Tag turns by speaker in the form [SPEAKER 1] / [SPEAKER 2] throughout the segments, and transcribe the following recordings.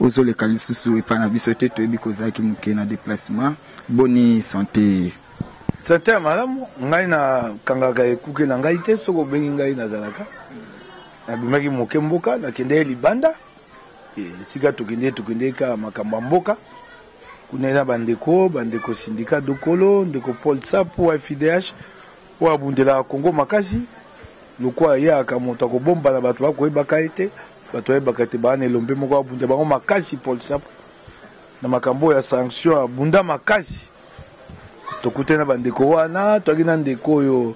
[SPEAKER 1] Ozo leka lisusu epa na biso te toyebi ke ozalaki muke na deplacement boni sante. Sante ya
[SPEAKER 2] malamu ngai na kangaka ekuke na ngai te soki obengi ngai na zalaka na bimaki muke mboka na kendeki libanda esika tokendeki tokendeki kaka makambo ya mboka kuna na ba ndeko ba ndeko sindika dokolo ndeko Paul Sapu wa FIDH oyo abundelaka Congo makasi lokuwa ayaka moto akobombana bato bakoyebaka ye te. Bato bayebaka te bana elombe moko abunda bango makasi Paul Sapu na makambo oyo ya sanction abunda makasi tokutani na bandeko wana toyaki na ndeko oyo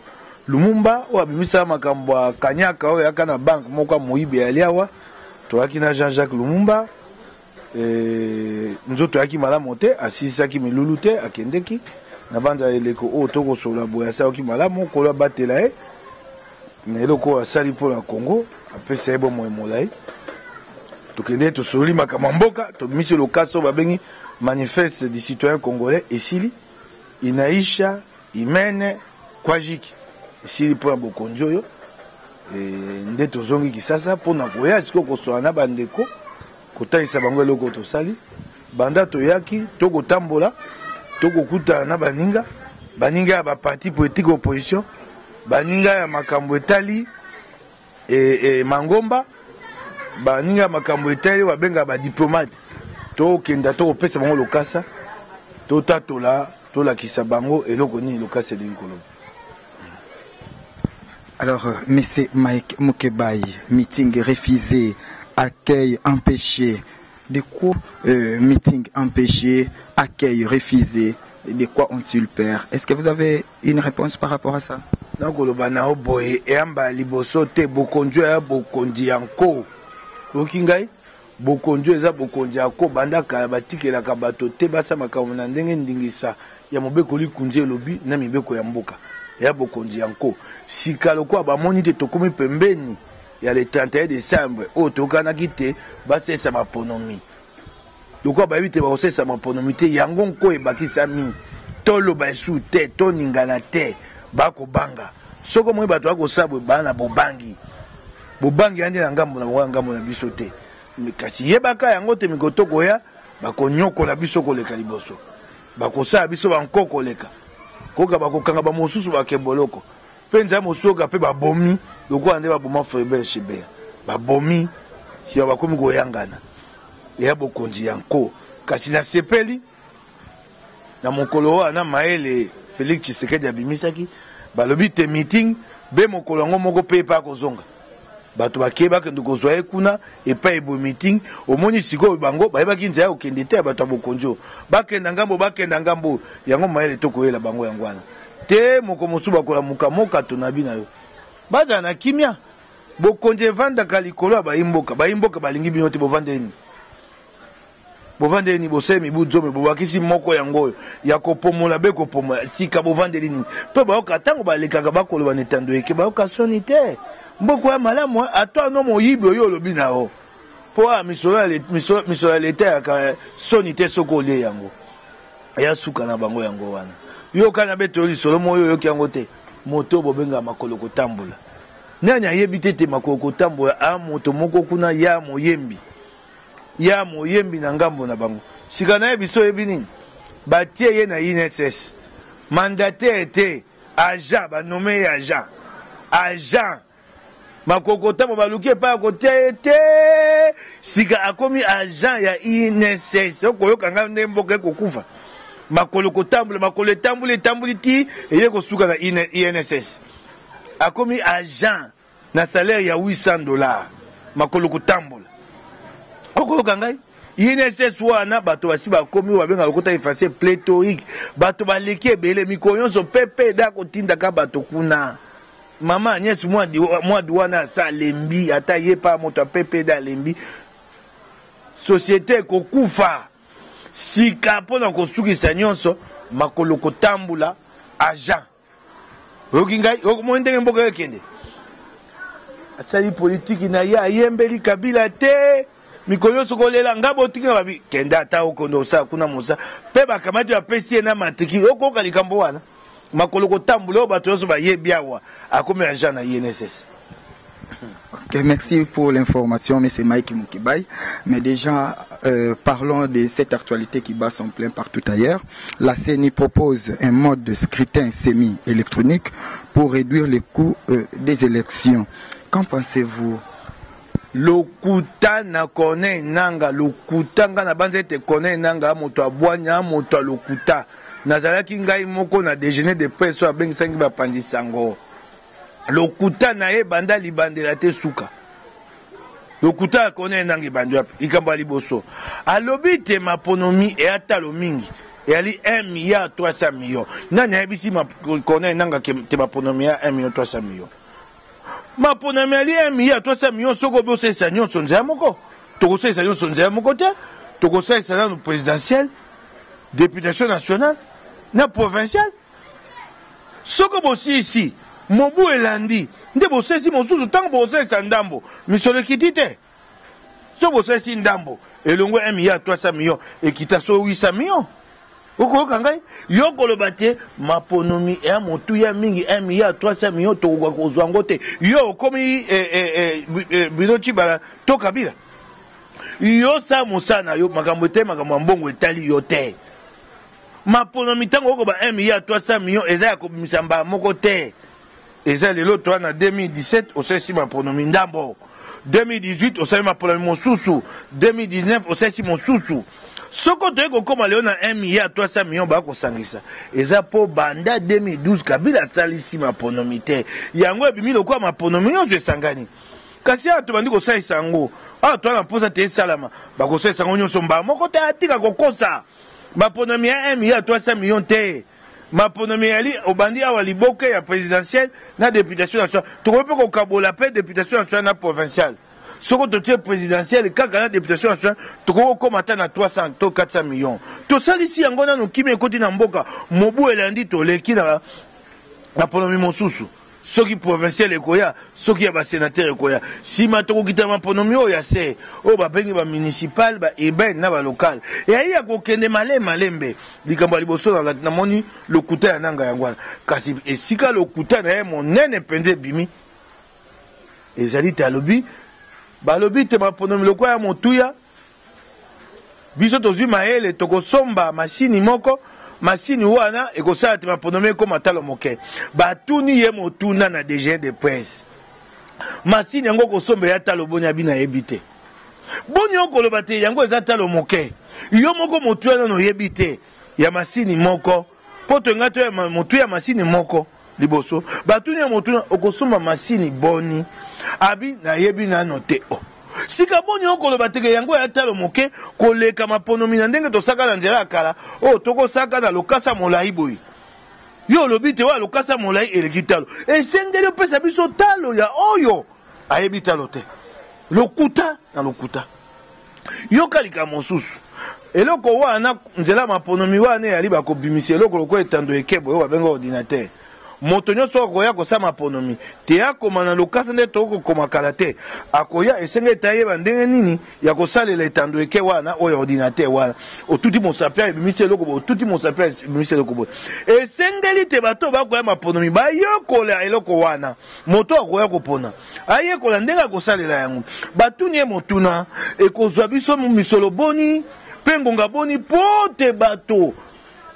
[SPEAKER 2] Lumumba oyo abimisaka makambo ya kanyaka oyo ayaka na banke moko ya moyibi ya liawa toyaki na Jean-Jacques Lumumba Eh, nzoto yaki malamu te asilisaki milulu te akendeki nabanza eleko oyo oh, tokosolola boye asalaki malamu kolo abatela ye na eloko oyo asali mpo na congo apesa ye bomoi molai tokendeki tosololi makambo ya mboka tobimisi lokasi oyo babengi manifeste du citoyen congolais esili inaisha Imene Quajic esili mpo na bokonzi oyo e, nde tozongi Kisasa mpo na koya sikoyo koswana na bandeko, kotalisa bango eloko tosali banda toyaki, to kotambola, to kokutana na baninga, baninga ya ba parti politique opposition, baninga ya makambo etali E, e, mangomba baninga ya makambo etali oyo babengaka badiplomate tokenda to kopesa bango lokasa totatola tolakisa bango eloko nini lokasa elingi koloba
[SPEAKER 1] alors euh, monsieur mike mukebayi meeting refusé accueil empêché de quoi euh, meeting empêché accueil refusé de quoi ont-ils peur est-ce que vous avez une reponse par rapport à ça. Nakoloba na yo
[SPEAKER 2] boye, eyamba ya liboso te, bokonzi oyo eza bokonzi ya nko. Oyoki ngai? Bokonzi oyo eza bokonzi ya nko. Banda kala, batikelaka bato te basala makambo na ndenge ndingisa ya Mobeko Likonzi elobi na mibeko ya mboka. Eya bokonzi ya nko. Sika, lokola bamoni te tokomi pembeni ya le 31 decembre, oyo toyokanaki te basalisa maponomi, Lokola bayebi te bakosalisa maponomi te, yango nko ebakisami, to loba esusu te, to ningana te, ba kobanga. Soki omoni bato ba kosala boye, baa na bobangi. Bobangi eya nde na ngambo na bango, na ngambo na biso te. Kasi yebaka yango te, mikolo tokoya, bakonyokola biso koleka liboso. Bakosala biso ba nko koleka. Koka bakokanga ba mosusu bakemboloko. Penza ya mosoga pe ba bomi lokola nde ba boma Frebert Chebea ba bomi sima ba komi ko yangana eya bokonzi ya nko kasi na sepeli na mokolo oyo na mayele Felix Tshisekedi abimisaki balobi te meeting be mokolo yango moko pe epa akozonga bato bakei bakende kozwa ye kuna epai eboye meeting omoni sikoyo bango bayebaki nzela ya kokende te ya bato ya bokonzi oyo bakenda ngambo bakenda ngambo oyo yango mayele to koyela bango yango wana te moko mosusu bakolamuka moka tonabi na yo bazala na kimia bokonzi evandaka likolo ya baimboka baimboka balingi bino te bovandeli nini Bovandeli nini bosali mibu zomi, bobakisi moko yango oyo, ya kopomola be kopomola? Sika bovandeli nini? Mpe bayoka, ntango balekaka, bakoloba na etando eke, bayoka soni te. Mboka oya malamu, eh? Ata no moyibi oyo olobi na yo, mpo ah, misolo ya leta, misolo, misolo ya leta yaka eh, soni te soki olie yango. Ya suka na bango yango wana. Yoka na beto yo lisolo moyo, oyoki yango te? Moto bobengaka makolo kotambola. Nani ayebi te te makolo kotambola, ah, moto moko kuna, ya moyembi. ya moyembi na ngambo na bango. Sika naye biso oyebi nini? Batie ye na INSS. Mandataire te, agent, ba nomme ye agent. Agent. Makokotamo baluki epai ya kotia ye te. Sika akomi agent ya INSS. Okoyoka ngai nde mboka ekokufa. Makolo kotambola, makolo etamboli, etamboli ti eye kosuka na INSS. Akomi agent. Na salaire ya 800 dollars, makolo kotambola. Oko yoka ngai? INSS wana bato basi bakomi oyo babenga lokota efase pléthorique, bato baleki ebele mikolo nyonso PPD akotindaka bato kuna. Mama Agnès Mwadi, Mwadu wana asa alembi, ata ye pa moto ya PPD alembi. Société ekokufa. Sika mpo na kosukisa nyonso, makolo kotambula, agent. Oyoki ngai okomoni ndenge mboka ekende asali politiki na ye ayembeli kabila te mikolo nyonso kolela nga botiki na babi kende ata okonde osala kuna mosa mpe bakamati bapesi ye na matrikile okoyoka likambo wana makolo kotambola oyo bato nyonso bayebi awa akomi agent na inss
[SPEAKER 1] Okay, merci pour l'information, mais c'est Mike Mukibay. Mais déjà, euh, parlons de cette actualité qui bat son plein partout ailleurs. La CENI propose un mode de scrutin semi-électronique pour réduire les coûts euh, des élections. Qu'en pensez-vous lokuta
[SPEAKER 2] na corneille nanga lokuta ngai nabanza ete corneille nanga moto abwanya moto ya lokuta nazalaki ngai moko na déjeuner de presse oyo abengisaki bapanzi sango Lokuta na ye banda libandela te suka. Lokuta ya Corneille Nangaa ebandi wapi? Likambo ya liboso, alobi ete maponomi eya talo mingi eyali 1 milliard 300 millions. Nani ayebisi Corneille Nangaa te maponomi ya 1 million 300 millions? Maponomi yali 1 milliard 300 millions soki obosalisa nyonso nzela moko. Tokosalisa nyonso nzela moko te, tokosalisa nano presidentielle, deputation nationale na provinciale. Soko bosilisi mobu elandi nde bosalisi mosusu, ntango bokosalisa ndambo, misolo ekiti te. Soki bosalisi ndambo, elongo ya 1 milliard 300 millions, ekita solo 800 millions. Okoyoka ngai? Yo koloba te maponomi ya motuya mingi 1 milliard 300 millions tokoka kozwa yango te. Yo okomi eh, eh, eh, eh, Bruno Tshibala to Kabila? Yo sa mosala na yo, makambo etali makambo ya mbongo etali yo te. Maponomi tango oko ba 1 milliard 300 millions eza ya kobimisa mbala moko te. Eza lelo toi na 2017 osalisi maponomi ndambo. 2018 osali maponomi mosusu. 2019 osalisi mosusu. Soko toye kokoma lelo na 1 milliard 300 millions ba kosangisa. Eza po banda 2012 Kabila asalisi maponomi te. Yango ebimi lokola maponomi nyonso esangani. Kasi awa tobandi kosalisa yango. Awa toa na mposa te esalama. Bakosalisa yango nyonso mbala moko te atika kokosa. Maponomi ya 1 million à 300 millions te. Maponomi eyali obandi awa liboke ya presidentielle na deputation nationale. Tokoki mpe kokabola mpe deputation nationale na provinciale. Soko totie presidentielle kaka na deputation nationale, tokoki kokoma ata na 300 to 400 millions. Tosalisi yango nanu kimia ekoti na mboka. Mobu elandi toleki na maponomi mosusu. soki provinciale ekoya, soki ya ba senateurs ekoya, sima tokokita na maponomi oyo ya se, oyo babengi ba municipales, ba urbaines na ba locales. Eya kokende malembe malembe. Likambo ya liboso nalaki, namoni lokuta ya Nangaa yango wana. Kasi esika lokuta na ye monene mpenza ebimi, ezali te alobi, balobi te maponomi lokola ya motuya, Biso tozui mayele toko somba machine moko machine wana ekosala te maponome ekoma talo moke batuni ye motuna na DG de presse machine yango okosomba ya talo boni abi nayebi te boni okoloba te yango eza talo moke yo moko motuya nano oyebi te ya machine moko poto enga to ya motuya machine moko Liboso batuni ye motuna, okosomba masini boni? Abi, nayebi nano te o. Sika boni okoloba teke yango ya talo moke koleka maponomi na ndenge tosaka na nzela ya kala oyo tokosaka na lokasa molayi boye? Yo olobi te oyo ya lokasa molayi eleki talo. Esengeli opesa biso talo ya oyo ayebi talo te. Lokuta na lokuta. Yoka likambo mosusu. Eloko wana, nzela ya maponomi wana eyali ba kobimisa eloko lokola etando ya ekebo oyo babenga ordinatere. Moto nyonso oyo akoya kosala maponomi, te akoma na lokasa ndenge tokoki kokoma kala te, akoya, esengeli ete ayeba ndenge nini ya kosalela etando eke wana oyo ya ordinatere wana. Otuti mosapi awa, ebimisi eloko boye, otuti mosapi awa, ebimisi eloko boye. Esengeli ete bato oyo bakoya maponomi bayekola eloko wana. Moto oyo akoya kopona ayekola ndenge ya kosalela yango. Batuni ye motuna, Ekozwa biso misolo boni mpe ngonga boni mpo te bato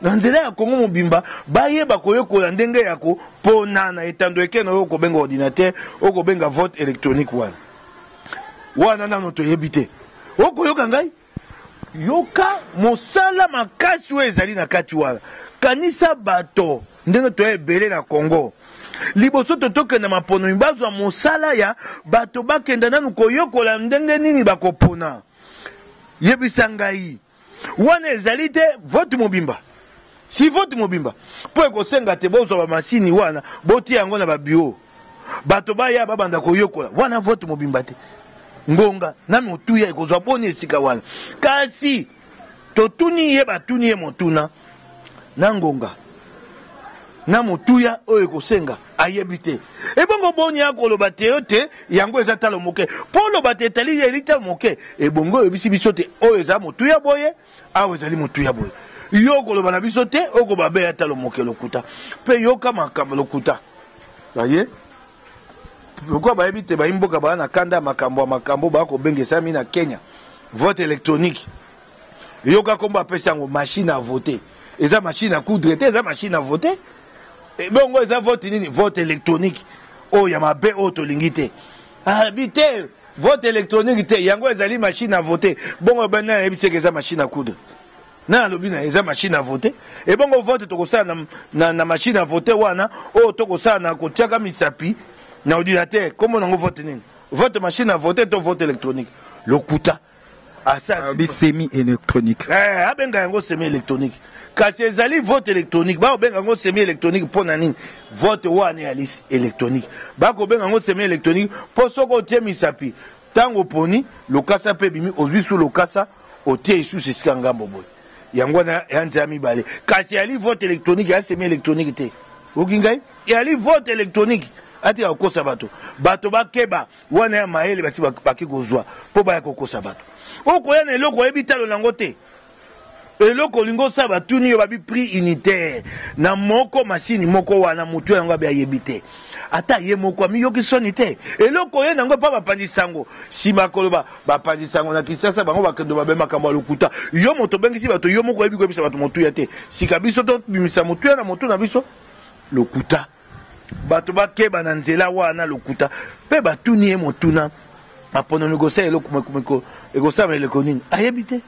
[SPEAKER 2] na nzela ya Congo mobimba bayeba koyekola ndenge ya kopona na etando eke na oyo kobenga ordinateur, oyo kobenga vote electronique wana? Wana nano toyebi te. Okoyoka ngai? Yoka mosala makasi oyo ezali na kati wana. Kanisa bato ndenge toye ebele na Congo. Liboso te tokenda maponomi, bazwa mosala ya bato bakenda nanu koyokola ndenge nini bakopona. Yebisa ngai, wana ezali te vote mobimba? Si vote mobimba, po ekosenga te bozwa ba masini wana botiya yango na ba bureau. bato baya babanda koyokola wana vote mobimba te ngonga na motuya ekozwa boni esika wana kasi totuni ye batuni ye motuna na ngonga na motuya oyo ekosenga ayebi te ebongo boni akoloba te yo te yango eza talo moke mpo oloba te etali ye elitalo moke ebongo oyebisi biso te oyo eza motuya boye Awa ezali motuya boye. Yo okoloba na biso te, oko babe ata lomoke lokuta. Pe yoka makambo lokuta. Baye pourquoi bayebi te bayi mboka baa na kanda ya makambo ya makambo baa kobengesami na Kenya vote electronique yoka kombo apesi yango machine à voter eza machine à coudre te eza machine à voter eh, bongo eza vote nini vote électronique oyo oh, ya mabe oyo oh, tolingi te abi ah, te Vote electronique te yango ezali machine à voter bongo ebani nani ayebi seke eza machine à coudre nani alobi na eza machine à voter ebongo vote tokosala na, na, na machine à voter wana oyo tokosala na kotiaka misapi na ordinateur kombo nango vote nini vote machine à voter to vote électronique lokuta Asi alobi semi
[SPEAKER 1] electronique. Ee, abenga yango
[SPEAKER 2] semi electronique. Kasi ezali vote electronique. Ba kobenga yango semi electronique mpo na nini? Vote wana eyali electronique. Ba kobenga yango semi electronique mpo soki otie misapi, tango oponi, lokasa mpe ebimi, ozui su lokasa, otie isusu esika ngambo boye. Yango wana ya nzela mibale. Kasi eyali vote electronique, eya semi electronique te. Oyoki ngai? Eyali vote electronique. Atika kokosa bato. Bato bakeba. Wana ya mayele basi baki kozwa mpo baya kokosa bato. Okoya na eloko oyebi talo na yango te. Eloko olingi osala batuni yo babi prix unitaire na moko masini moko wana motu yango abi ayebi te. Ata ye moko amiyoki soni te. Eloko oye na yango epa bapanzi sango nsima koloba bapanzi sango na Kinshasa bango bakendo babe makambo ya lokuta. Yo moto obengisi bato yo moko oyebi koyebisa bato motuya te. Sika biso tobimisa motuya na motu na biso? Lokuta. Bato bakeba na nzela wa na lokuta, mpe batuni ye motuna maponomi kosala eloko ekosalama eleko nini ayebi te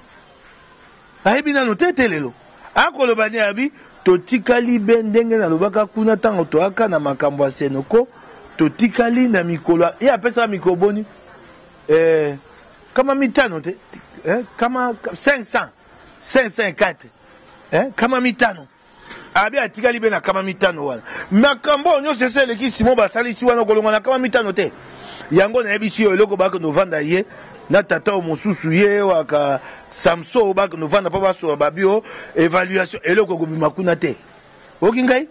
[SPEAKER 2] ayebi nano te te lelo akoloba nde abi totikali be ndenge nalobaka kuna ntango toyaka na makambo ya senoko totikali na mikolo ye apesaka mikolo boni eh, kama mitano te eh, kama 500 504 eh, kama mitano Abe atikali be na kama mitano wana. Makambo oyo nyonso esi eleki Simon basalisi wana okolonga na kama mitano te. Yango nayebisi yo eloko bakende ovanda ye na tata oyo mosusu ye waka Samson oyo bakende ovanda mpo basoba babio evaluation eloko ekobima kuna te. Oki ngai?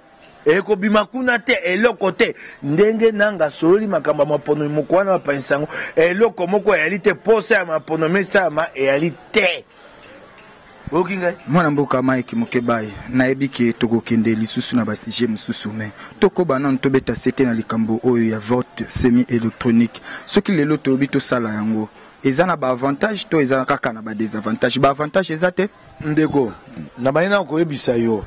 [SPEAKER 2] ekobima kuna te eloko te ndenge nanga asololi makambo ya maponomi moko wana bapanisa yango eloko moko eyali te mposa ya maponomi esalama eyali te Oyoki ngai? Mwana mboka
[SPEAKER 1] Mike Mukebayi, nayebi ke tokokende lisusu na ba sujets mosusu mais tokoba nanu tobeta sete na likambo oyo ya vote semi electronique. Soki lelo tolobi tosala yango, eza na ba avantages to eza kaka na ba desavantages? Ba avantages eza te? Ndeko,
[SPEAKER 2] nabandi nanu koyebisa yo.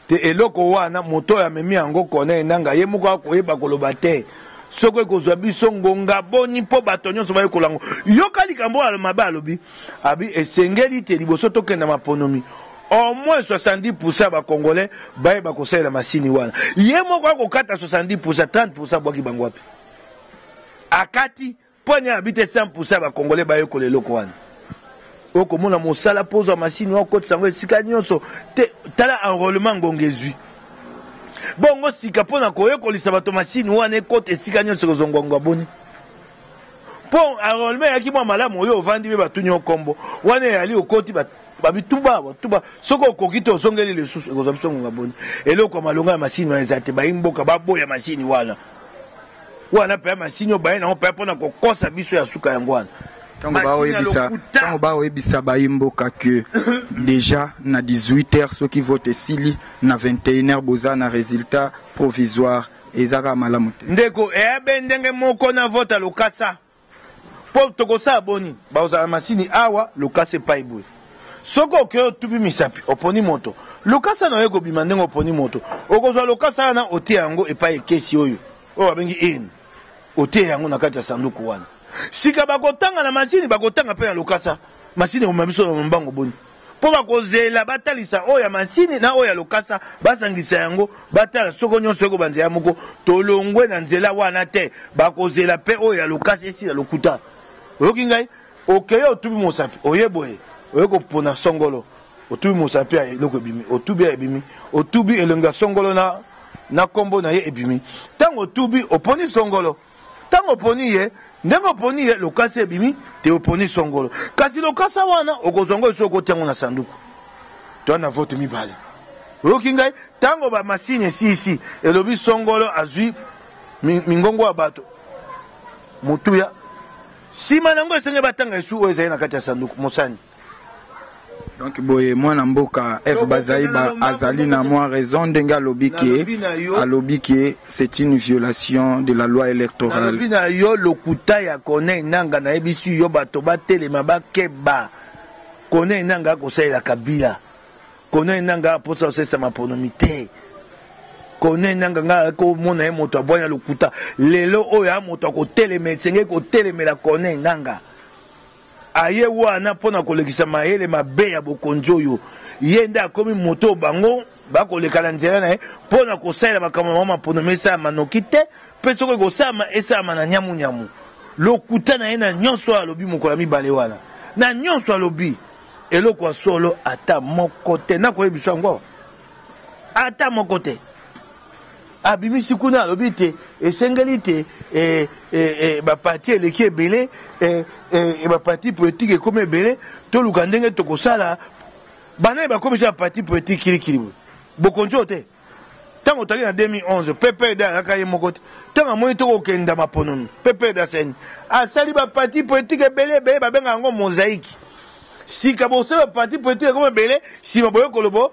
[SPEAKER 2] te eloko wana moto oyo amemi yango corneille nanga ye moko akoyeba koloba te soko ekozwa biso ngonga boni mpo bato nyonso bayekola yango yoka likambo oyo mabe alobi abi esengeli te liboso tokenda maponomi au moins 70 pourcent ya bacongolais bayeba kosalela masini wana ye moko akokata 70 pourcent 30 pourcent abwaki bango wapi akati Pwanya ya bite 100 pour 100 ya ba congolais bayekola eloko wana. Oko mona mosala po ozwa machine oko kotisa yango esika nionso te tala enrolement ngonga ezwi. Bongo sika pona koyekolisa bato machine wana ekota esika nionso ekozwa ngonga boni? Po enrolement eyaki mwa malamu oyo ovandi pe batuni yo kombo wana eyali okoti ba ba bituba ba tuba soki okoki te ozongeli lisusu ekozwa biso ngonga boni? Eloko ya malonga ya machine wana eza te bayi mboka baboya machine wana. wana mpe masini oyo baye nango mpe mpo na kokosa biso ya suka yango wana ntango
[SPEAKER 1] baoyebisa bayi mboka ke deja na 18 heures soki vote esili na 21 heures boza na résultat provisoire eza kaka malamu te ndeko eabe ndenge
[SPEAKER 2] moko na vote ya lokasa Po tokosala boni? Bakozala na masini awa, lokasa epayi boye. Soki okei otupi misapi, oponi moto, lokasa na yo ekobima ndenge oponi moto. Okozwa lokasa wana, otie yango epayi ekesi oyo, oyo babengi urne. Otie yango na kati ya sanduku wana. Sika, bakotanga na masini, bakotanga pe na lokasa. Masini ekomema biso na lombango boni? mpo bakozela batalisa oyo ya masini na oyo ya lokasa, basangisa yango, batala soko nyonso ekoba nzela moko, tolongwe na nzela wana te, bakozela mpe oyo ya lokasa esila lokuta. Oyoki ngai? Okeye otubi mosapi, oye boye, oye kopona songolo, otubi mosapi ya eloko ebimi, otubi ya ebimi, otubi elongi ya songolo na na kombo na ye ebimi. Tango otubi, oponi songolo. Ntango oponi ye, ndenge oponi ye, lokasa ebimi te, oponi songolo. Kasi lokasa wana, okozwa yango lisusu, okotia yango na sanduku. Toa na vote mibale. Oyoki ngai? Ntango ba masini esiisi, elobi songolo azwi mingongo ya bato motuya. Sima na yango, esengeli batanga esu oyo ezali na kati ya sanduku. Mosani.
[SPEAKER 1] donc boye mwana mboka eve bazaiba azali na mwa raison ndenge alobi ke alobi ke c'est une violation de la loi électorale nalobi na yo
[SPEAKER 2] lokuta ya corneille nanga nayebisi yo bato batelema bakeba corneille nanga akosalela kabila corneille nanga aposa kosalisa maponomi te corneille nanga ngai akomona ye moto abwanya lokuta lelo oyo a moto akotelema esengeli kotelemela corneille nanga Aye wana mpo na kolekisa mayele mabe ya bokonzi oyo ye nde akomi moto oyo bango bakoleka na nzela na ye mpo na kosalela makambo na bango maponomi esalama noki te, mpe soki ekosalama esalama na nyamunyamu. Lokuta na ye na nyonso oyo alobi mokolo ya mibale wana, na nyonso alobi eloko ya solo ata moko te. Nakoyebiso yango awa, ata moko te. Abimisi kuna alobi ete esengeli ete e, e, e, bapati eleki ebele e, e, e, bapati politiki ekomi ebele toluka ndenge tokosala banani bakomisa bapati politiki kilikili boye bokonzi oyo te ntango otali na 2011 ppd ayaka ye moko te ntango amoni tokokenda maponomi ppd aseni asali bapati politiki ebele ebele babenga yango mozaiki sika bosala bapati politiki ekomi ebele nsima boye kolobo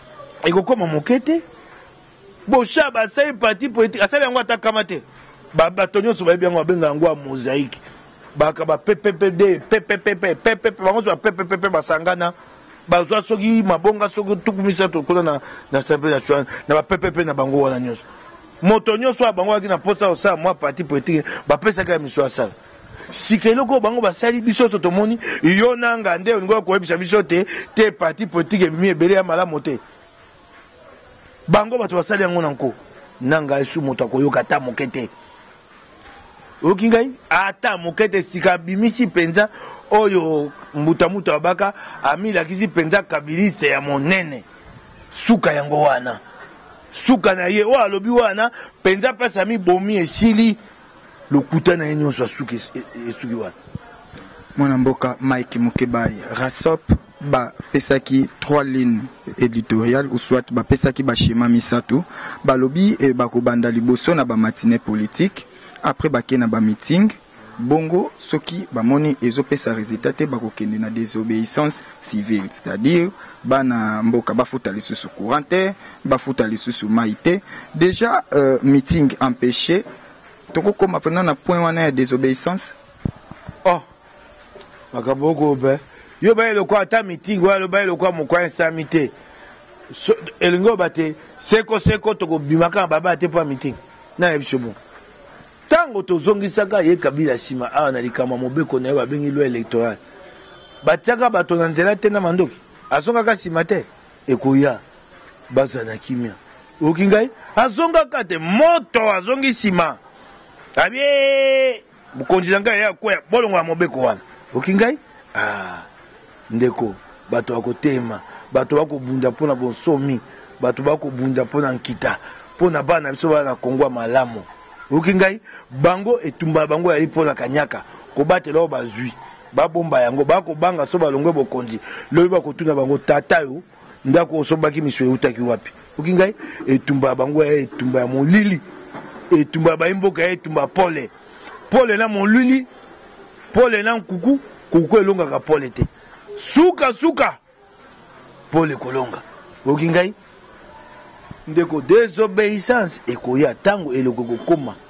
[SPEAKER 2] ekokoma moke te boshab asali parti politique asali yango ata kama te bato nyonso bayebi yango babenga yango ya mosaïque baka bapepepepe pepepepe pepepe bango nyonso bapepepepe basangana bazwa soki mabonga soki tuku misato kuna na, na assemblée nationale na bapepepe na bango wana nyonso moto nyonso oyo bango ayaki na mposa ya kosala mwa parti politique bapesaka ya miso asala sika eloko oyo bango basali biso nyonso tomoni yo na nga nde olingi koyebisa biso te te parti politique ebimi ebele ya malamu te bango bato basali yango na nko na ngai su moto akoyoka ata moke te oyoki ngai ata moke te sika abimisi mpenza oyo mbutamuta wabaka amilakisi mpenza kabiliste ya monene suka yango wana suka na ye oyo alobi wana mpenza mpasi amibomi esili Lokuta na ye nionso ya suka esuki wana. Mwana
[SPEAKER 1] mboka Mike Mukebayi, RASOP ba pesaki trois lignes editoriales ou soit ba pesaki ba schema misatu, ba lobi ba ko banda liboso na ba matinees politiques, après ba ke na ba meetings, bongo soki ba moni ezo pesa resultat te ba ko kende na desobeissance, civil c'est à dire bana mboka bafuta lisusu courant te bafuta lisusu mai te dejà euh, meeting empêché tokokoma mpena na point wana ya désobéissance oh
[SPEAKER 2] makambo okobe yo baye lokola ata meeting wana lobaye lokola moko esami te so, elingi oba te seko seko tokobimaka na baba te mpo ya meeting nayebisi yo bongo Tango tozongisaka ye Kabila sima awa na likambo ya mobeko na ye babengi loi electorale, batiaka bato na nzela te na mandoki? Azongaka sima te? Ekoya, bazala na kimia. Oyoki ngai? Azongaka te. Moto azongi sima, abi ee, mokonzi na ngai aya koya, bolongola mobeko wana. Oyoki ngai? Ah! Ndeko, bato ya koteyema, bato ba kobunda mpo na bonsomi, bato ba kobunda mpo na nkita, mpo na bana na biso baya na Congo ya malamu, oyoki ngai? Bango, etumba na bango eyali mpo na kanyaka, kobatela oyo bazwi, babomba yango, baya kobanga soki balongwe bokonzi, lobi bakotuna bango, tata yo, Ndako osombaki misu ewutaki wapi? Oki ngai? Etumba ya bango ya etumba ya molili. Etumba ya bayi mboka ya etumba pole. Pole na molili, pole na nkuku, nkuku elongaka pole te. Suka suka pole ekolonga. Oki ngai? Ndeko desobeissance ekoya tango eloko ekokoma.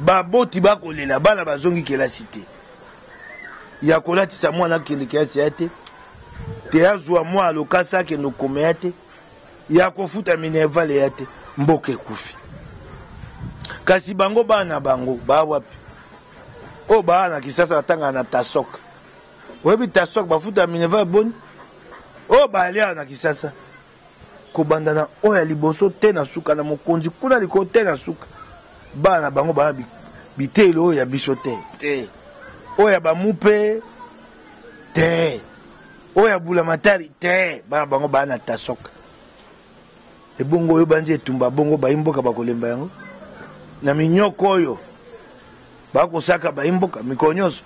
[SPEAKER 2] Baboti ba kolela bana bazongi kelasi te, ya kolatisa mwana akende kelasi aya te, te azua mwana lokasa akende okoma ya te, ya kofuta minerval eya te, mboka ekufi. Kasi bango bana bango baa wapi? Oyo baa na Kisasa batangaka na Tasok, oyebi Tasok bafuta minerval boni? Oyo balia na Kisasa kobanda na oyo ya liboso tee na suka, na mokonzi kuna likolo tee na suka, bana na bango baya biteyelo oyo ya biso te, te oyo ya bamupe te, oyo ya bulamatari te, bana bango baya na tasoka. Ebongo oyo banzi etumba bongo bayi mboka bakolemba yango na minyoko oyo. Bakosaka bayi mboka mikolo nyonso.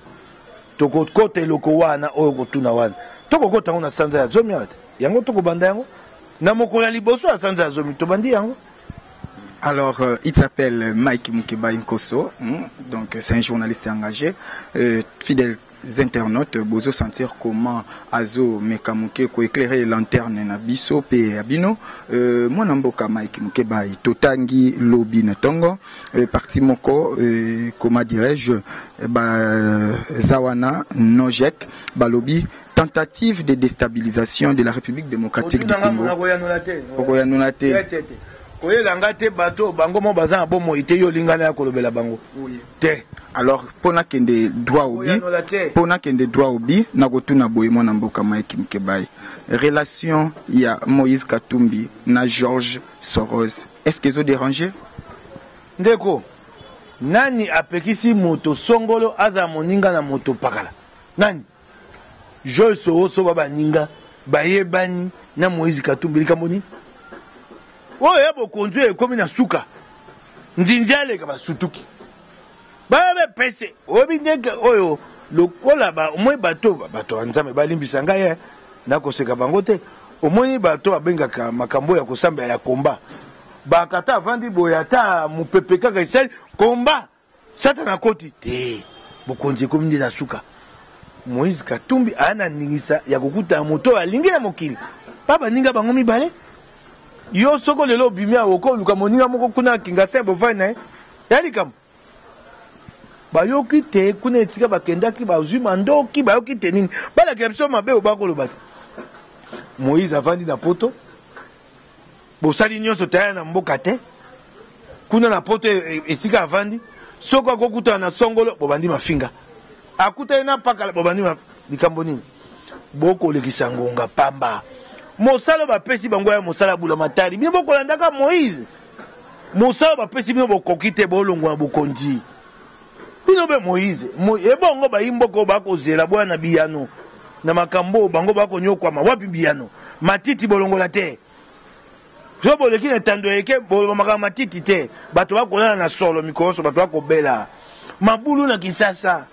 [SPEAKER 2] Tokokota eloko wana oyo okotuna wana. Tokokota yango na sanza ya zomi awa te. Yango tokobanda yango na mokolo ya liboso ya sanza ya zomi. Tobandi yango. Alors,
[SPEAKER 1] euh, il s'appelle Mike Mukebayi Nkoso, hmm? donc c'est un journaliste engagé, euh, fidèle internautes bozo sentir comment azo meka muke ko eclairer lanterne na biso pe ya bino euh, mwana mboka Mike Mukebayi totangi lobi na tongo euh, parti moko euh, comment dirais-je ba zawana nojek balobi tentative de déstabilisation de la République démocratique du Congo okoyanola te
[SPEAKER 2] koyela nga te bato bango mo baza na bomoi te yo olingana ya kolobela bango oui. te alors mpo
[SPEAKER 1] nakende droit au but mpo nakende droit au but nakotuna boye mwana mboka mike mkebayi relation ya moïse katumbi na george soros est ce que ezo déranger ndeko
[SPEAKER 2] nani apekisi moto songolo azala moninga na moto pakala nani Joyce owosoba baninga bayebani na Moïse Katumbi likambo nini? Oyo ya bokonzi oyo ekomi na suka nzinzi aleka basutuki bayabe pese oyebi ndeke oyo lokola ba omoi bato bato ya Nzambe balimbisa ngai eh, nakoseka bango te omoni bato babengaka makambo ya kosambela ya komba bakata avandi boye ata mopepe kaka esali komba Satana akoti? Te. Bokonzi ekomi nde na suka. Moïse Katumbi aya na ndingisa ya kokuta na moto oyo alingi na mokili. Ba baninga bango mibale. Yo soko lelo obimi awa okoluka moninga moko kuna na Kingasin bovani na ye. Ya likambo. Bayoki te kuna etika bakendaki bazwi mandoki bayoki te nini. Balakela biso mabe oyo bakoloba te. Moïse avandi na poto. bosali nyonso taya na mboka te kuna na poto e, e, esika avandi soko akokutana na songolo bobandi mafinga akutani na pakala bobandi likambo nini bokolekisa ngonga pamba mosala bapesi bango ya mosala ya bulamatari bino bokolandaka moïse mosala bapesi bino bokoki te bolongwa na bokonzi Bino mpe Moize, ebongo bayimboko bakozela boya na biyano na makambo oyo bango bakonyokwama. Wapi biyano? Matiti bolongola te. Soki boleki na etando ya eke, boloba makambo matiti te. Bato bakolala na solo mikoloso, bato bakobela mabulu na Kinsasa.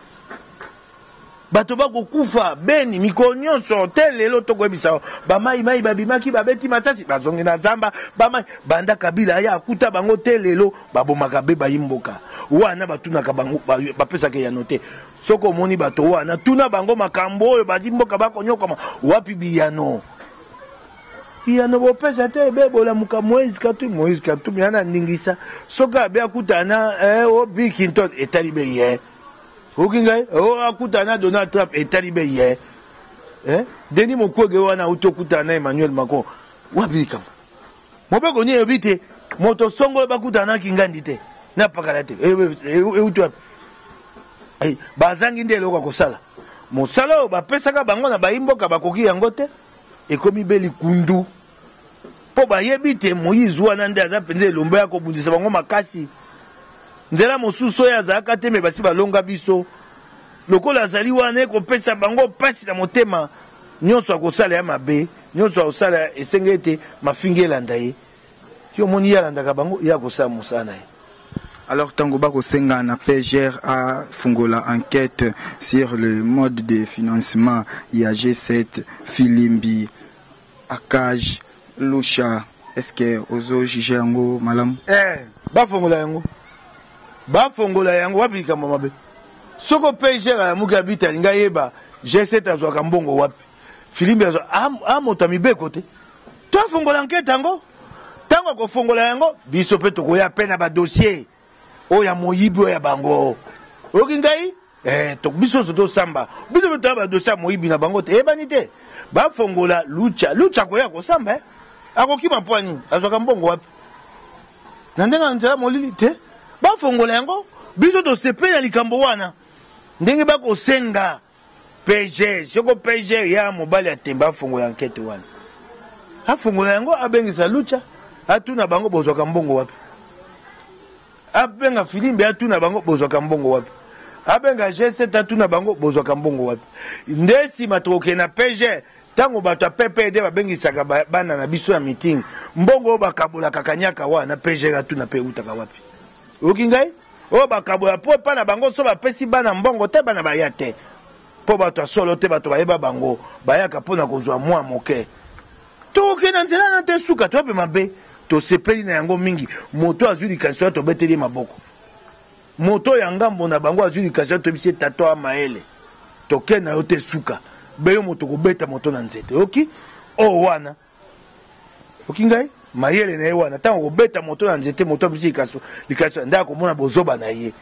[SPEAKER 2] Bato bako kufa beni mikolo nionso tee lelo toko yebisa yo ba mayi mayi ba bimaki ba beti masasi ba zongi na zamba ba mayi banda kabila aya akuta bango tee lelo ba bomaka be bayi mboka wana ba tunaka bango ba pesaka eyano te soki omoni bato wana tuna bango makambo oyo bayi mboka bako nyokwama wapi biyano biyano bo pesa te be bolamuka Moïse Katumbi Moïse Katumbi ana ningisa soki abe akuta na eh, o Bill Clinton etali be ye Oki ngai oh, akutana na Donald Trump etali be ye eh? eh? Denis Mukwege wana auti okutana na Emmanuel Macron wapi likambo mobeko nini elobi te moto songolo bakutana na kingandi te na pakala te euti wapi eh, bazangi nde eloko ya kosala mosala oyo bapesaka bango na baimboka bakoki yango te ekomi be likundu Mpo bayebi te Moize wana nde aza mpenza elombe ya kobundisa bango makasi. Nzela mosusu oyo azalaka te, me basi balonga biso. Lokola azali wana, ekopesa bango mpasi na motema. Nyonso akosala ya mabe, nyonso akosala esenge ete mafingi elanda ye. Yo omoni ye alandaka bango? Ye akosala mosala na ye. Alors tango
[SPEAKER 1] ba kosenga na PGR a fungola enquête sur le mode de financement ya G7 filimbi Akaj lusha est ce que ozo juge yango malamu? Eeh ba fongola
[SPEAKER 2] yango ba fongola yango wapi likambo ya mabe soki opgr alamuki abite alingi ayeba G7 azwaka mbongo wapi filimbi azwa aa moto ya mibeko te to afongola ankete yango tango akofongola yango biso pe tokoya pe na ba dossier oyo ya moyibi oyo ya bango oyoki ngai eh, to biso nyonso tosamba biso mpe toya badosi ya moyibi na bango te eyebani te bafongola lucha lucha akoya kosamba eh? akokima mpo ya nini azwaka mbongo wapi na ndenge ya nzela molili te bafongola yango biso tosepeli na likambo wana ndenge bakosenga Pge soko pge ya mobali ya tembe afongola enquete wana afongola yango abengisa lucha atuna bango bozwaka mbongo wapi abenga filimbe atuna bango bozwaka mbongo wapi abenga g7 atuna bango bozwaka mbongo wapi nde nsima tokokende na pge ntango bato ya ppd babengisaka bana na biso ya meeting mbongo oyo bakabolaka kanyaka wana pge atuna mpe eutaka wapi Oyoki ngai? Oyo bakabola po epai na bango soki bapesi bana mbongo te, bana baya te. Po bato ya solo te, bato bayeba bango, bayaka po na kozwa mwa moke. Tokokende na nzela wana tee suka, toyope mabe. Tosepeli na yango mingi. Moto oyo azwi likanisi wana, tobeteli ye maboko. Moto oyo ya ngambo na bango azwi likanisi wana, toyebisi ye, Tata oa mayele, tokende na yo tee suka. Be yo moto okobeta moto na nzete. Oyoki? Oyo wana. oki ngai mayele na ye wana ntango akobeta moto na nzete moto abisi likasu likasu nde akomona bozoba na ye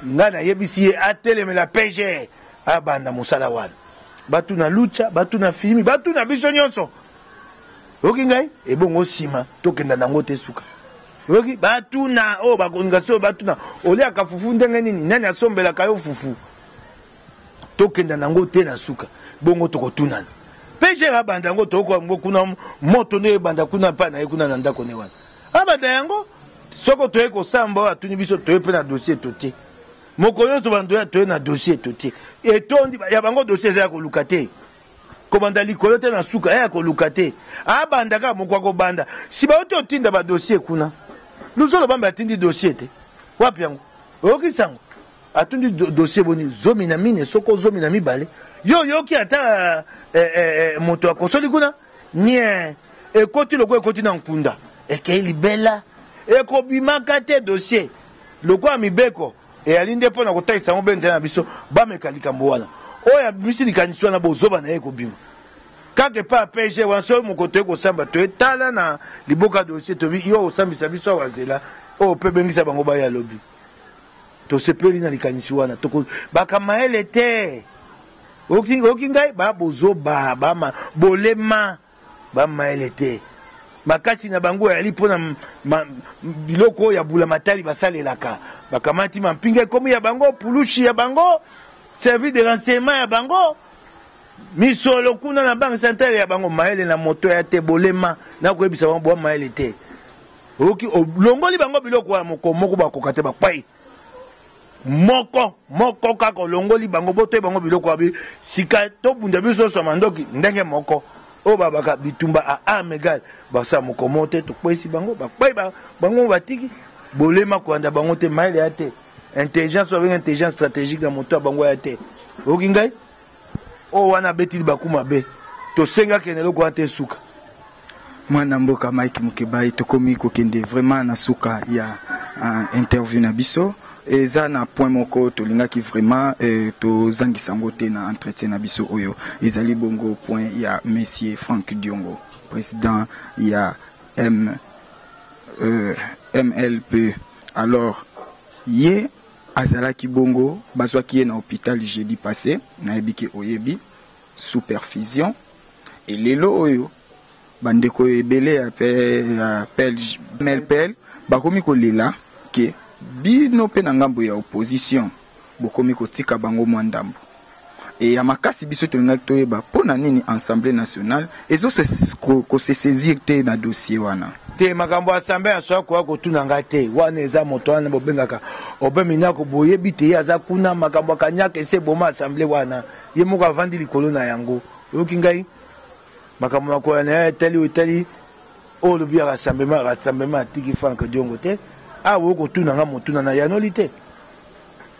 [SPEAKER 2] ngai nayebisi ye atelemela pge abanda mosala wana batu na lucha batu na filimi batu na biso nyonso oyoki ngai ebongo nsima tokenda nango te suka oyoki batuna oyo oh, bakonika soyo batuna oliaka fufu ndenge nini nani asombelaka yo fufu tokenda nango te na suka bongo tokotunana pejere abanda yango tokoka yango kuna moto nde ebanda kuna epai na ye kuna na ndako ne wana abanda yango soko toye kosamba oyo atuni biso toye mpe na dosie totie moko nyonso bandoya toye na dosie totie etondi ya bango dosie eza ya koluka te kobanda likolo te na suka ya koluka te abanda kaka moko akobanda nsima yo te otinda badosie kuna luzolo bambe atindi dosie te wapi yango oyokisi yango Atundi dossier boni zomi na mine soko zomi na mibale yo oyoki ata eh, eh, eh, moto akosoli kuna nie ekoti lokola ekoti na nkunda ekei libela ekobimaka te dossier lokola mibeko eyali nde mpo na kotalisa yango mpe nzela na biso bameka likambo wana oyo abimisi likanisi wana bozoba na ye ekobima kaka epai ya pg wana soki moko toye kosamba toye tala na liboka dossier tobi yo osambisa biso awa zela oyo mpe bengisa bango baya lobi Tosepeli na likanisi wana. Toko baka mayele te. Oki, oki ngai ba bozoba, ba ma, bolema, ba mayele te. Makasi na bango yali pona ma, biloko ya bula matali basalelaka. Bakamati mampinga ekomi ya bango, pulushi ya bango, service de renseignement ya bango. misolo kuna na banque centrale ya bango mayele na moto ya te bolema nakoyebisa bango bwa mayele te oyoki olongoli bango biloko wana moko moko bakoka te bakwei moko moko kaka olongoli bango botoi bango biloko wabi sika tobunda biso nyonso ya mandoki ndenge moko oyo babaka bitumba a arme egale basala mokomo te tokweisi bango bakwei bango batiki bolema kolanda bango te mayele ya te intelligence babenge intelligence stratégique na moto ya bango ya te oyoki ngai Oyo wana abeti libaku mabe. Tosenga kende eloko wana te suka. Mwana
[SPEAKER 1] mboka Mike Mukebayi tokomi kokende vraiment na suka ya uh, interview na biso eza na point moko tolingaki vraiment eh, tozangisa yango te na entretien na biso oyo ezali bongo point ya monsieur Frank Diongo président ya M, euh, MLP alors ye Azalaki bongo, bazwaki ye na hopital jeudi passe, nayebi ke oyebi, sous perfusion, et lelo oyo ba ndeko ebele ya PLPL bakomi kolela ke bino pe na ngambo ya opposition bokomi kotika bango mwa ndambo. Et ya makasi biso tolingaki toyeba pona nini Assemblee nationale ezo se ko se saisir te na dossier wana. Te makambo ya Assemblee
[SPEAKER 2] nationale koya kotuna nga te wana eza moto wana bobengaka Aubin Minaku boyebi te ye aza kuna makambo ya kaniaka esi eboma Assemblee wana ye moko avandi likolo na yango oyoki ngai makambo makoya na ye etali oyo etali oyo olobi ya rassemblement rassemblement atiki Franck Diongo te awa boye kotuna nga motuna na yanoli te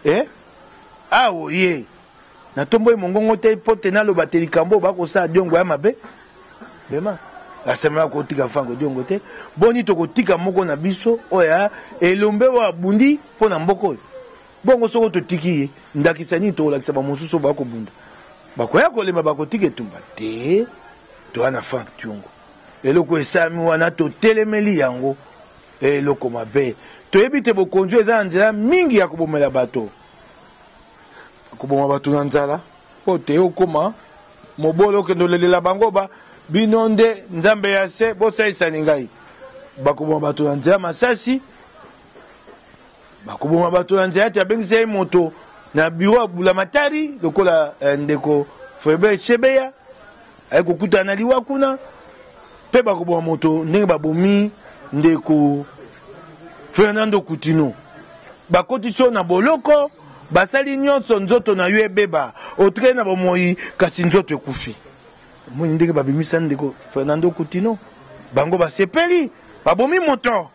[SPEAKER 2] eh? Awa oye, natomboli mongongo te mpo te naloba te likambo oyo bakosala Diongo ya mabe. Bema, basemblaka kotika Franco Diongo te. Boni, tokotika moko na biso oyo ya elombe oyo abundi mpo na mboka oyo? Bongo soko totiki ye, ndakisa nini tokolakisa bamosusu oyo bakobunda? Bakoya kolemba, bakotika etumba te. Toya na Frank Diongo. Eloko esalami wana, totelemeli yango. Ee, eloko mabe. Toyebi ete bokonzi oyo eza na nzela mingi ya kobomela bato. Koboma bato na nzala, mpo te okoma mobolo, okende olelela bango, ba, Bino nde nzambe ya se, bosalisani ngai. Bakoboma bato na nzela masasi, bakoboma bato na nzela ete abengisa ye moto na biro ya bulamatari, lokola eh, ndeko Foebert Chebeya. Aye kokutana na liwa kuna, mpe bakoboma moto ndenge babomi ndeko Fernando Coutinho. Bakotisi yo na boloko, basali nyonso nzoto na yo ebeba, otikali na bomoi kasi nzoto ekufi. Omoni ndenge babimisani ndeko Fernando Coutinho? Bango basepeli, babomi moto,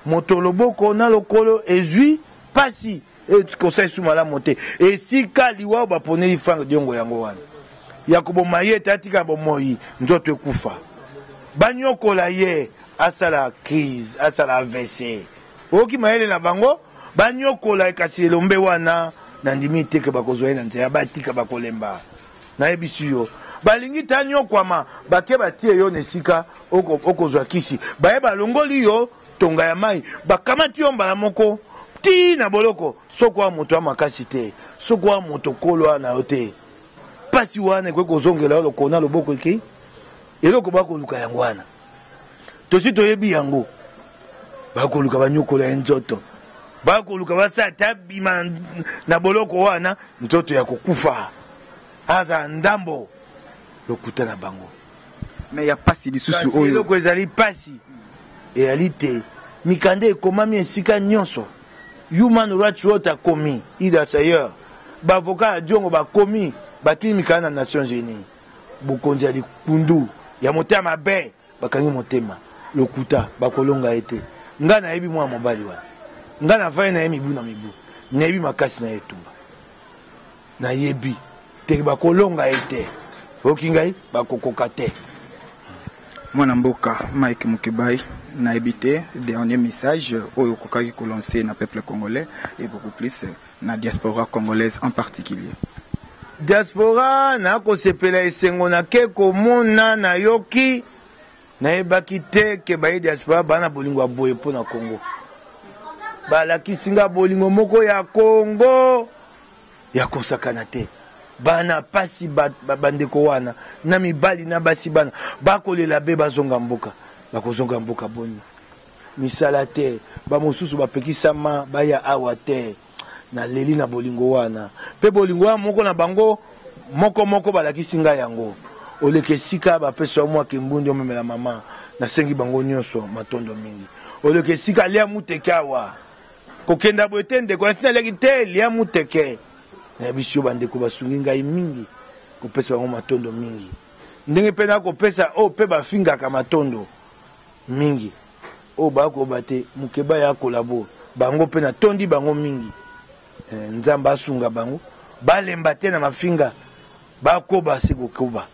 [SPEAKER 2] moto loboko na lokolo ezwi pasi. E conseil su malamu te. Esika liwa ba poneli Frank Diongo yango wana. Ya koboma ye te atika bomoyi nzoto ekufa. Banyokola ye asala crise asala AVC. Oyoki mayele na bango? Banyokola ye kasi elombe wana nandimi te ke bakozwa ye na nzela batika bakolemba. Nayebisi yo. Balingi te anyokwama bake batie yo na esika okozwa kisi. Baye balongoli yo. Tonga ya mayi bakamati yo mbala moko ti na boloko soki oa moto ya makasi te soki oa moto kolo oa na yo te pasi wana ekoki kozongela yo lokolo na loboko ekei eloko bakoluka yango wana tosi toyebi yango bakoluka banyokola ye nzoto bakoluka basala te abima na boloko wana nzoto ya kokufa azala ndambo lokuta na bango Mais ya
[SPEAKER 1] pasi lisusu oyo. Kasi eloko ezali pasi
[SPEAKER 2] eyali te mikanda ekomami esika nionso. Human Rights Watch akomi, Idas Ayer, ba avocats ya Diongo bakomi, batindi mikanda na Nations Unies. Bokonzi ya likundu, ya motema mabe, bakangi motema. Lokuta, bakolonga ye te. Ngai nayebi mwana mobali wana. Ngai nafandi na ye mibu na mibu. Nayebi makasi na ye etumba. Na yebi te ba ko longa ye te oyoki ngai ba ko koka te.
[SPEAKER 1] Mwana mboka Mike Mukebayi, nayebi te dernier message oyo okokaki ko lancer na peuple congolais et beaucoup plus na diaspora congolaise en particulier. Diaspora
[SPEAKER 2] na ko sepela esengo na ke ko mona na yoki na yebaki te ke baye diaspora ba na bolingo ya boye pona congo ba lakisi nga bolingo moko ya congo. ya kosakana te bana pasi bandeko wana na mibali na basi bana bakolela be bazonga mboka bakozonga mboka boni misala te bamosusu bapekisama baya awa te naleli na bolingo wana mpe bolingo wana moko na bango moko moko balakisi ngai yango oleka esika bapesa yo mwa kimbundi omemela mama nasengi bango nyonso matondo mingi oleka esika lia muteke awa Kokenda boye te ndeko, nasi naliaki te lia muteke. Nayebi sio bandeko basungi ngai mingi, kopesa bango matondo mingi. Ndenge pe na kopesa oyo pe bafingaka matondo mingi. Oyo baya koloba te mukebay a kolabo bango pe na tondi bango mingi. Nzambe asunga bango balemba te na mafinga, bakoba se kokoba.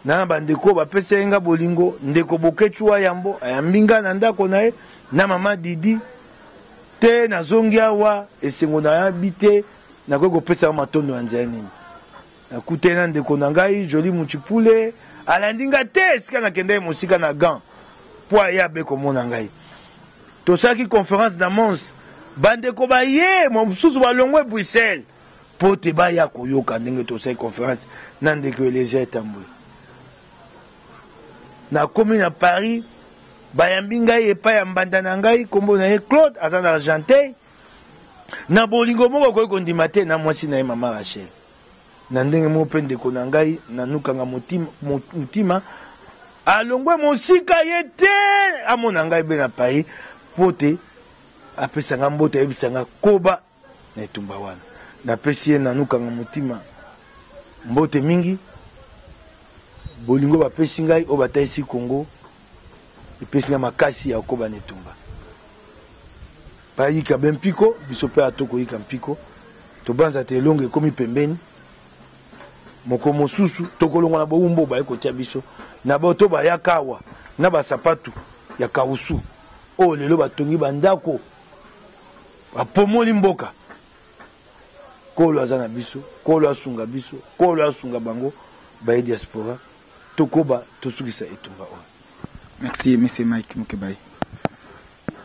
[SPEAKER 2] na ba ndeko ba pesa ye nga bolingo ndeko Boketshu wa yambo ayambi nga na ndako na ye na mama Didi te nazongi awa esengo na yabi te nakoki kopesa yo matondo ya nzela nini nakutani na ndeko na ngai Joli Muchipule alandi nga te esika nakendaki mosika na gant mpo aye abe komona ngai tosalaki conference na mons bandeko baye mosusu balongwe bruxelles mpo te baya koyoka ndenge tosali conference na ndeko Eliezer Etambwe. Nakomi na Paris, bayambi ngai epai ya mbanda na ngai, nkombo na ye Claude, aza na Argenteuil, na bolingo moko akoki kondima te na mwasi na ye mama Rachel. Na ndenge moko mpe ndeko na ngai nanukanga motima, motima alongwe mosika ye te amona ngai be na Paris mpo te apesa ngai mbote ayebisa ngai koba na etumba wana. Napesi ye Nanou Kanga Motima mbote mingi. Bolingo bapesi ngai oyo batalisi Congo epesi ngai makasi ya kokoba na etumba. Bayika be mpiko, biso mpe ato koyika mpiko. Tobanza te elonga ekomi pembeni. Moko mosusu tokolongwa na bowumbu oyo baye kotia biso na bato bayaka awa na basapatu ya kawusu oyo lelo batongi bandako Bapomoli mboka. Kolo aza na biso, kolo asunga biso, kolo asunga bango baye diaspora tokoba tosukisa etumba oyo. Merci
[SPEAKER 1] monsieur Mike Mukebayi.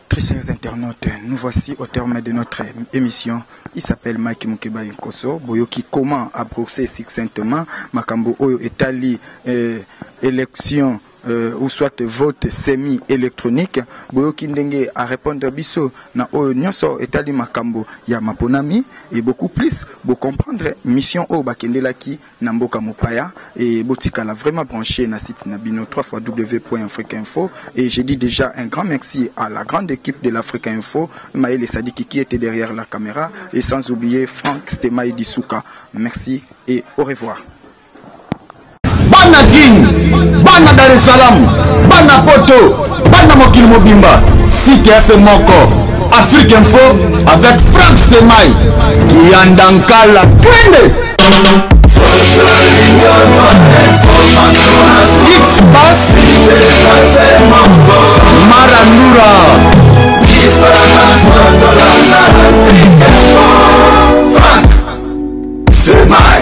[SPEAKER 1] Très chers internautes, nous voici au terme de notre émission. Il s'appelle Mike Mukebayi Nkoso. Boyoki comment a brosser succinctement makambo oyo etali euh, élection euh, ou soit vote semi électronique boyoki ndenge a répondre biso na oyo nyonso etali makambo ya maponami et beaucoup plus bo comprendre mission oyo bakendelaki na mboka mopaya et botikala vraiment branché na site na bino 3 fois www.africa info et j'ai dit déjà un grand merci à la grande équipe de l'Africa info Maël Sadiki qui était derrière la caméra et sans oublier Franck Stemay Disuka merci et au revoir bana
[SPEAKER 3] kin bana dar es salaam bana poto bana mokili mobimba site efe moko afrique info avec frank stemai kiyanda nkala kende xbas marandura Frank Semai